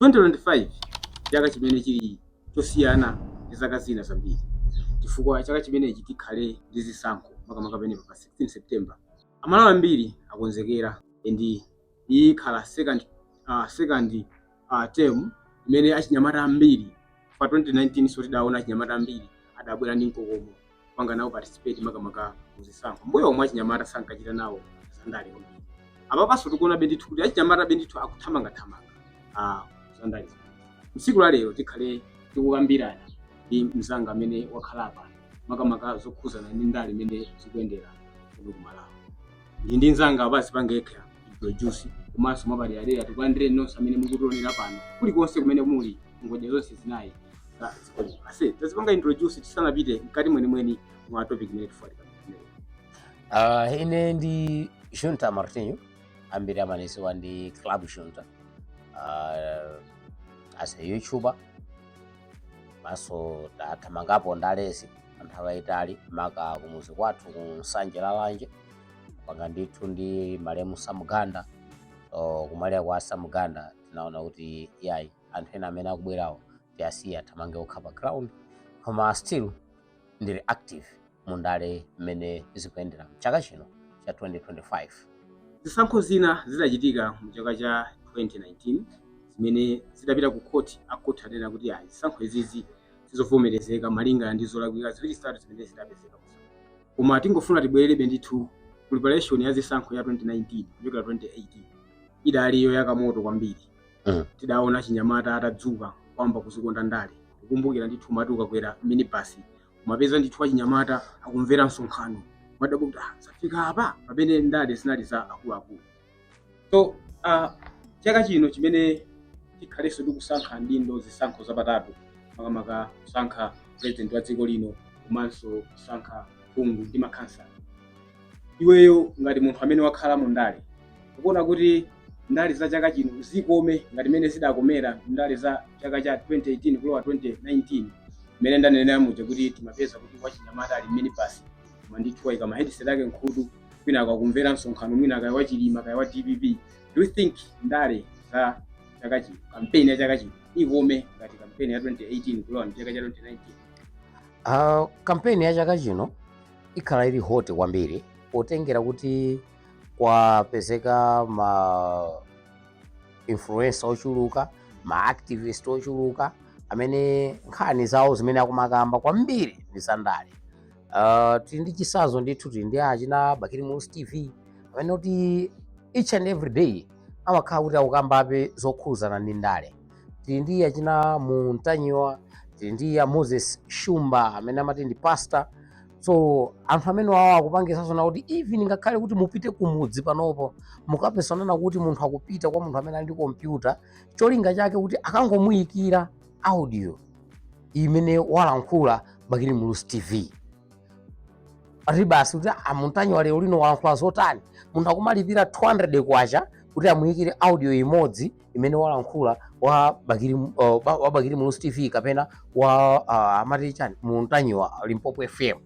2025 chaka chimene chili chosiyana ndi zaka zina zambiri chifukwa chaka chimenechi tikhale ndi zisankho makamaka pamenepa pa 16 September amalawi ambiri akonzekera and iyi ikhala second, uh, second uh, time imene achinyamata ambiri pa 2019 so tidaona achinyamata ambiri adabwera ndi mkokomo kupanga nawo participate makamaka muzisankho mbuyomu achinyamata sankachita nawo zandale kwambiri apapanso tikuonabe ndithu kuti achinyamata be ndithu akuthamangathamanga ah, zandale msiku la lero tikhale tikukambirana ndi mzanga amene wakhala apa makamaka zokhuzana ndi ndale mmene zikuyendera kuno ku malawi ndili ndi nzanga apa azipanga yekha introduce komanso mwapadera tikulandire nonse amene mukutionera pano kulikonse kumene muli ngodya zonse zinayi za dziko lino aise tazipanga introduce tisanapite mkati mwenimweni mwa topic imene tifunika Uh, ine ndi Junta Martinho ambiri amanidziwa ndi Club Junta uh, as a YouTuber komanso tathamangapo ndalezi anthawi yayitali maka kumuzi kwathu ku nsanje lalanje panga ndithu ndi malemu Sam Ganda o, kumwalira kwa Sam Ganda tinaona kuti yayi anthu ena amene akubwerawo tiasiye athamange okha pa ground koma still ndili active mu ndale mmene zikuyendera mchaka chino cha 2025. Zisankho zina zidachitika mu chaka cha 2019 zimene zidapita ku khoti, a khoti adanena kuti ayi zisankho izizi sizovomerezeka malingana ndi zolakwika ziwiri zitatu zimene zidapezeka. Koma tingofuna tibwererebe ndithu preparation ya zisankho ya 2019 kuchokera 2018 idali yoyaka moto kwambiri. Mm. Tidaona achinyamata atadzuka kuyamba kuzikonda ndale. Kukumbukira ndithu umati ukakwera minibus umapeza ndithu achinyamata akumvera msonkhano umadabwa kuti ah, zafika apa pamene ndale zinali za akuluakulu so uh, chaka chino chimene tikhalenso tikusankha adindo zisankho zapatatu makamaka kusankha president wa dziko lino komanso kusankha phungu ndi makhansala iweyo ngati munthu amene wakhala mu ndale ukuona kuti ndale za chaka chino zikome ngati mmene zidakomera ndale za chaka cha 2018 kulowa 2019 mmene ndanenera muja kuti timapeza kuti wachinyamata ali mminibus koma ndithu waika mahediseti ake mkhutu kwina akakumvera msonkhano mwina kaya wa Chilima kaya wa dpp do you think ndale za chaka chino kampeni ya chaka chino ikome ngati kampeni ya 2018 kulowa ndi chaka cha 2019 Uh, kampeni ya chaka chino ikhala ili hot kwambiri potengera kuti kwapezeka ma influencer ochuluka ma activist ochuluka amene nkhani zawo zimene akumakamba kwambiri ndi zandale tili ndi chisanzo ndithu tili ndi achina bakili muluzi tv amene kuti each and every day amakhala kuti akukambabe zokhuzana ndi ndale tili ndi achina ntanyiwa tili ndi a moses shumba amene amati ndi pastor so anthu amene wawo akupangisanso na kuti even ngakhale kuti mupite kumudzi panopo mukapeza nazo kuti munthu akupita kwa munthu amene ali ndi kompyuta cholinga chake kuti akangomuyikira audio imene walankhula bakili muluzi tv ati basi kuti a ntanyiwa lero lino walankhula zotani munthu akumalipira 200 kwacha kuti amuyikire audio imodzi imene walankhula wa Bakili Muluzi TV kapena wa uh, amati chani Ntanyiwa Limpopo FM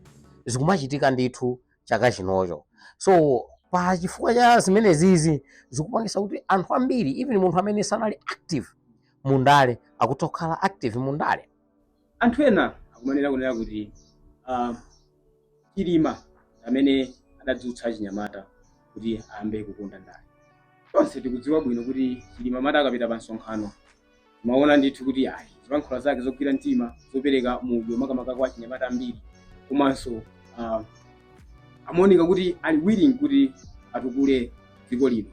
zikumachitika ndithu chaka chinocho so pa chifukwa cha zimenezizi zikupangisa kuti anthu ambiri even munthu amene sanali active mundale akutha kukhala active mundale anthu ena akumanena kunena kuti uh, chilima amene adadzutsa achinyamata kuti ayambe kukonda ndale tonse tikudziwa bwino kuti chilima amati akapita pa msonkhano umaona ndithu kuti ayi zilankhula zake zogwira mtima zopereka mudyo makamaka kwa achinyamata ambiri komanso uh, amaoneka kuti ali willing kuti atukule dziko lino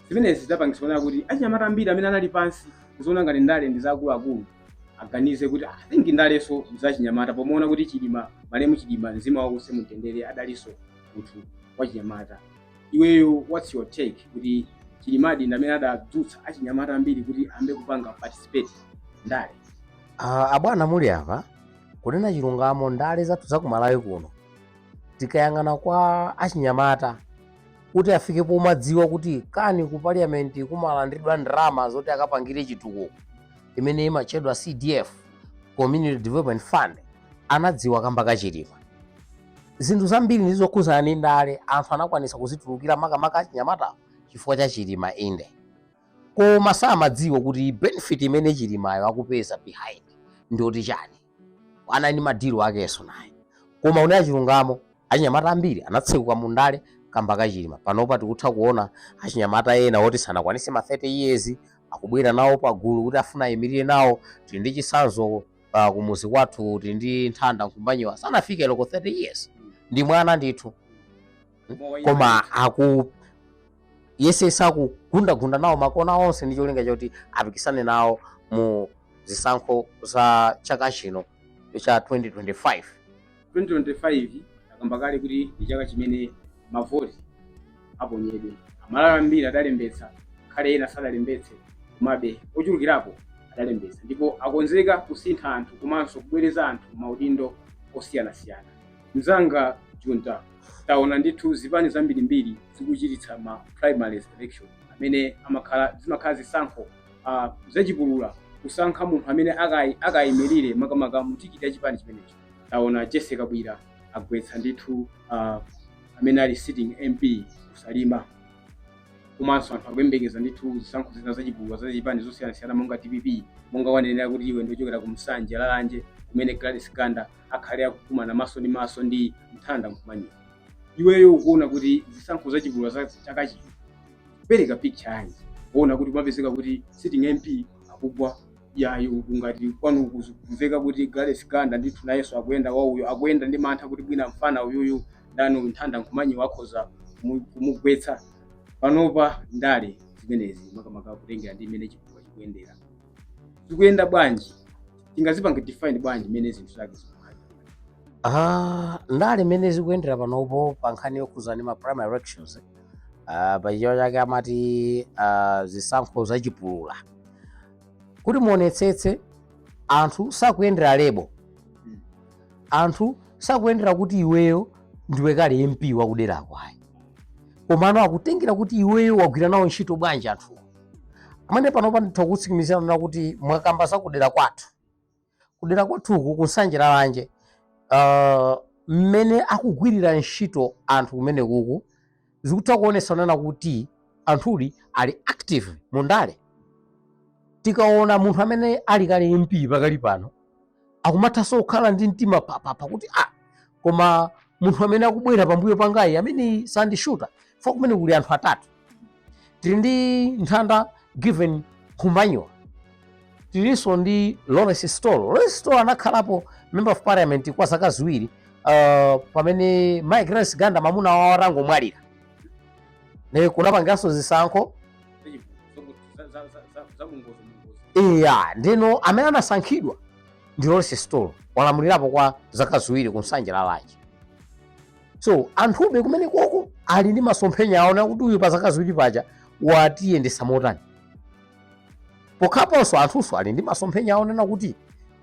zimenezi zidapangitsa kuti achinyamata ambiri amene anali pansi kuziona ngati ndale ndi zaakuluakulu aganize kuti i think ndalenso zachinyamata pomaona kuti chilima malemu chilima mzimu wake uuse mutendere adalinso munthu wachinyamata iweyo what's your take kuti chilimadi ndamene adadzutsa achinyamata ambiri kuti ambe kupanga participate ndale Ah, abwana muli apa kunena chilungamo ndale zathu za kumalawi kuno tikayang'ana kwa achinyamata kuti afike pomadziwa kuti kani ku parliament kumalandidwa ndalama zoti akapangire chitukuko imene imatchedwa cdf community development fund anadziwa kamba ka chilima zinthu zambiri ndi zokhuzana ndi ndale anthu anakwanisa kuzitulukira makamaka achinyamata chifukwa cha chilima inde koma samadziwa kuti benefit imene chilimayo akupeza behind ndiyoti chani anali ndi madilu akenso naye koma kunena chilungamo achinyamata ambiri anatsekuka mu ndale kamba ka chilima panopa tikutha kuona achinyamata ena oti sanakwanise ma 30 years akubwera nawo pagulu kuti afuna ayimirire nawo tili ndi chisanzo uh, kumuzi kwathu tili ndi nthanda nkhumbanyiwa sanafike loko 30 years ndi mwana ndithu koma aku akuyesetsa kugundagunda nawo makona onse ndi cholinga choti apikisane nawo mu zisankho za chaka chino cha 2025 2025 akamba kale kuti ndi chaka chimene mavoti aponyedwe amalawi ambiri adalembetsa kale ena sadalembetse komabe ochulukirapo adalembetsa ndipo akonzeka kusintha anthu komanso kubwereza anthu maudindo osiyanasiyana Mzanga Junta, taona ndithu zipani zambirimbiri zikuchititsa ma primary elections amene amakhala zimakhala zisankho uh, zachipulula kusankha munthu amene akai- akayimirire makamaka mutikiti ya chipani chimenecho taona Jessie Kabwila agwetsa ndithu uh, amene ali sitting mp ku Salima komanso anthu akuyembekeza ndithu zisankho zina zachipulula za zipani zosiyanasiyana monga dpp monga wanenera kuti iwe ndiwochokera ku Nsanje Lalanje kumene Gladys Ganda akhale akukumana maso ndi maso ndi Thanda Kumbanyiwa iweyo ukuona kuti zisankho zachipulula za chaka chino pereka picture yanji kuona kuti kumapezeka kuti sitting mp akugwa yayo ngati kwanu kumveka kuti Gladys Ganda ndithu nayenso akuyenda wauyo akuyenda ndi mantha kuti mwina mfana uyuyu ndani uyu Thanda Kumbanyiwa akhoza kumu- kumugwetsa panopa ndale zimenezi makamaka kutengera ndi mmene chipulula chikuyendera zikuyenda bwanji tingazipanga define bwanji mmene zinthu zake zikukhalira Ah, ndale mmene zikuyendera panopo pa nkhani yokhudza ndi ma primary elections eh, ah, pa chichewa chake amati ah, zisankho zachipulula kuti muonetsetse anthu sakuyendera lebo Mm. anthu sakuyendera kuti iweyo ndiwe kale mp wakuderako ayi komano akutengera kuti iweyo wagwira nawo ntchito bwanji anthuwo amene panopa nditha kutsimikizira kunena kuti mwakamba za kudera kwathu kudera kwathuku ku Nsanje Lalanje uh, mmene akugwirira ntchito anthu kumene kuku zikutha kuonetsa kunena kuti anthu ali active mundale tikaona munthu amene ali kale mp pakali pano akumathanso kukhala ndi mtima papapa kuti ah, koma munthu amene akubwera pambuyo pangayu ameneyu sandishuta chifukwa kumene kuli anthu atatu tili ndi Thanda Given Kumbanyiwa tilinso ndi Lawrence Sitolo Lawrence Sitolo anakhalapo member of parliament kwa zaka ziwiri uh, pamene mayi Gladys Ganda mamuna wawo atangomwalira ne kunapangidwanso zisankho eya ndiyeno amene anasankhidwa ndi Lawrence Sitolo walamulirapo kwa zaka ziwiri ku Nsanje Lalanje so anthube kumene koko ali ndi masomphenya aona kuti uyu pa zaka ziwiri paja watiyendetsa motani pokhalaponso anthunso ali ndi masomphenya onena kuti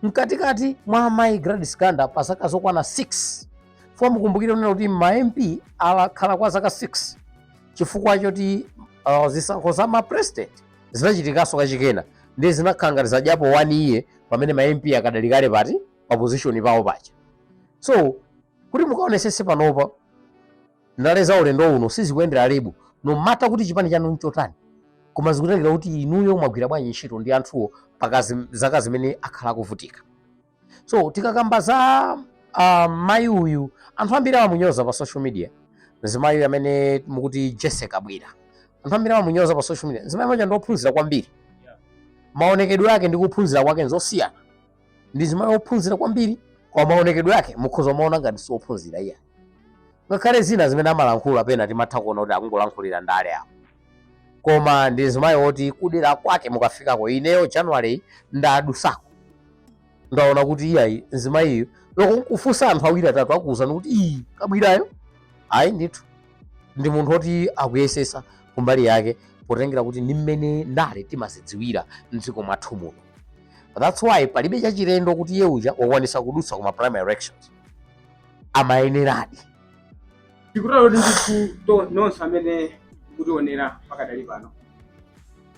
mkatikati mwa amayi Gladys Ganda pa zaka zokwana 6 chifukwa mukumbukire unena kuti ma mp akhala kwa zaka 6 chifukwa choti uh, zisankho za ma president zinachitikanso kachikena ndiye zinakhala ngati zadyapo one year pamene ma mp akadali kale pati pa position pawo paja so kuti mukaonesese panopa ndale za ulendo uno sizikuyendera label no matter kuti chipani chanu nchotani koma zikutengera kuti inuyo mwagwira bwanji ntchito ndi anthuwo pakazi zaka zimene akhala akuvutika so tikakamba za uh, mayi uyu anthu ambiri amamunyoza pa social media mzimayi uyu amene mukuti jesse kabwila anthu ambiri amamunyoza pa social media mzimayi uja ndiophunzira kwambiri maonekedwe ake ndi kuphunzira kwake nzosiyana ndi mzimayi wophunzira kwambiri koma maonekedwe ake mukhoza kumaona ngati siophunzira iyayi ngakhale zina zimene amalankhula pena timatha kuona kuti akungolankhulira ndale apo koma ndi mzimayi woti kudera kwake mukafikako ineyo january ndadusako ndaona kuti iyayi mzimayiyo olo kufunsa anthu awiri atatu akuwuzani kuti ii kabwilayo ayi ndithu ndi munthu woti akuyesesa kumbali yake potengera kuti ndi mmene ndale timazidziwira mdziko mwathu muno that's why palibe chachilendo kuti iye uja wakwanisa kudutsa kuma primary elections amayeneradi tikutero kuti ndithu to- nonse amene mukutionera pakadali pano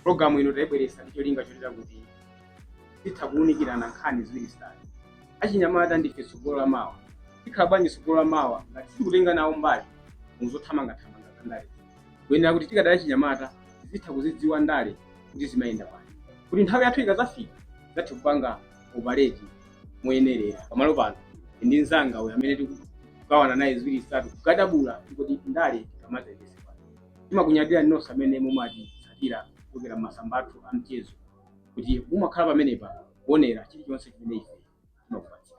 programu ino tayibweretsa ndi cholinga chotere kuti tithe kuwunikirana nkhani ziwiri zitatu achinyamata ndife tsogolo la mawa tikhala bwanji tsogolo la mawa ngati sitikutenga nawo mbali muzothamangathamanga za ndale tikuyenera kuti tikadali achinyamata tizitha kuzidziwa ndale kuti zimayenda bwanji kuti nthawi yathu ikazafika tizathe kupanga operate moyenerera pamalo pano ndi mzanga uyu amene tiku- kugawana naye ziwiri zitatu kukadabula kuti ndale tikamazayendese pano timakunyadira nonse amene mumatitsatira kuchokera mmasamba athu a mchezo kuti mumakhala pamenepa kuonera chilichonse chimene ife timakupatsira